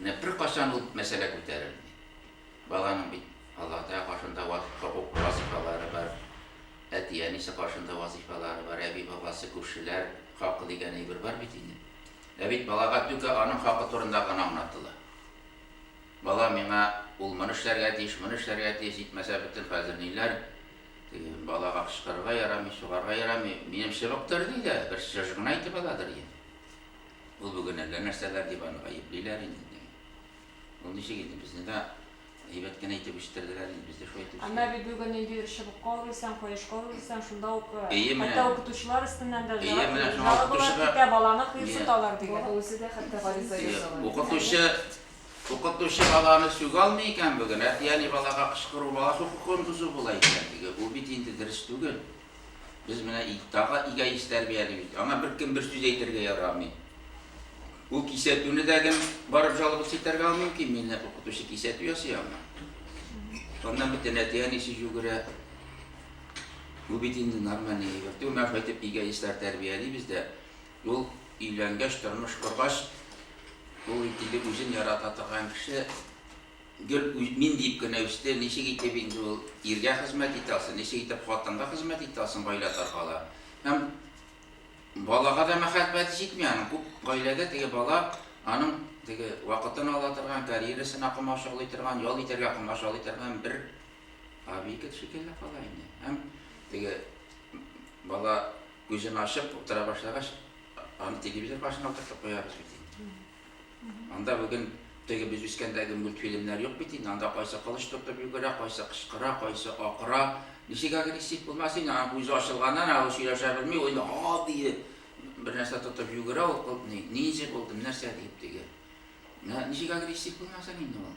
Менә беркайчан ул мәсьәлә күтәрелми. Баланың бит Аллаһ Тәгалә каршында хокук вазифалары бар, әти-әнисе каршында вазифалары бар, әби-бабасы, күршеләр хакы дигән әйбер бар бит инде. Ә бит балага түгә аның хакы турында гына аңлатыла. Бала миңа ул моны эшләргә тиеш, моны эшләргә тиеш, җитмәсә бөтен хәзер ниләр, теге балага кычкырырга ярамый, сугарга ярамый, минем чыбыктыр ди дә, бер чыжгын әйтеп аладыр инде. Ул бүген әллә нәрсәләр дип аны гаеплиләр инде. Ул ничек инде безне дә әйбәт кенә итеп үстерделәр инде, без дә шулай итеп үстек. Әмма бит бүген инде ир чыбыкка үрелсәң, кояшка үрелсәң, шунда ук хәтта укытучылар өстеннән дә жалобалар китә, баланы кыерсыталар дигән. Бала үзе дә хәтта гариза яза. Укытучы, укытучы баланы сүгә алмый икән бүген, әти-әни балага кычкыру бала хокукын бозу була икән, диге. Бу бит инде дөрес түгел. Без менә тагы эгоист тәрбиялибез. Аңа беркем бер сүз әйтергә ярамый. Ул кисәтүне дә кем барып жалобасы итәргә мөмкин, мине укытучы кисәтү ясый аңа. Шуннан бит әти әнисе жүгерә. Бу бит инде нормальный әйбер. Түгел, әйтеп эгоистлар тәрбиялибез дә. Ул өйләнгәч, тормыш коргач, ул инде үзен ярата торган кеше Гел мин диеп кенә үсте, ничек итеп инде ул иргә хезмәт итә алсын, ничек итеп хатынга хезмәт итә алсын гаилә таркала. Һәм балага да мәхәббәте җитми аның, күп гаиләдә теге бала аның теге вакытын ала торган, карьерасына комачаулый торган, ял итәргә комачаулый торган бер аби кет шикелле кала инде. Һәм теге бала күзен ачып утыра башлагач, аны телевизор каршына утыртып куябыз бит инде. Анда бүген теге без үскәндәге мультфильмнар юк бит инде. Анда кайсы кылыч тотып йөгерә, кайсы кычкыра, кайсы акыра. Ничек агрессив булмасын инде, аның күзе ачылганнан ул сөйләшә белми, ул ха дие бер нәрсә тотып йөгерә ул кыл ни, ниндзя булдым, нәрсә дип теге. Ничек агрессив булмасын инде ул.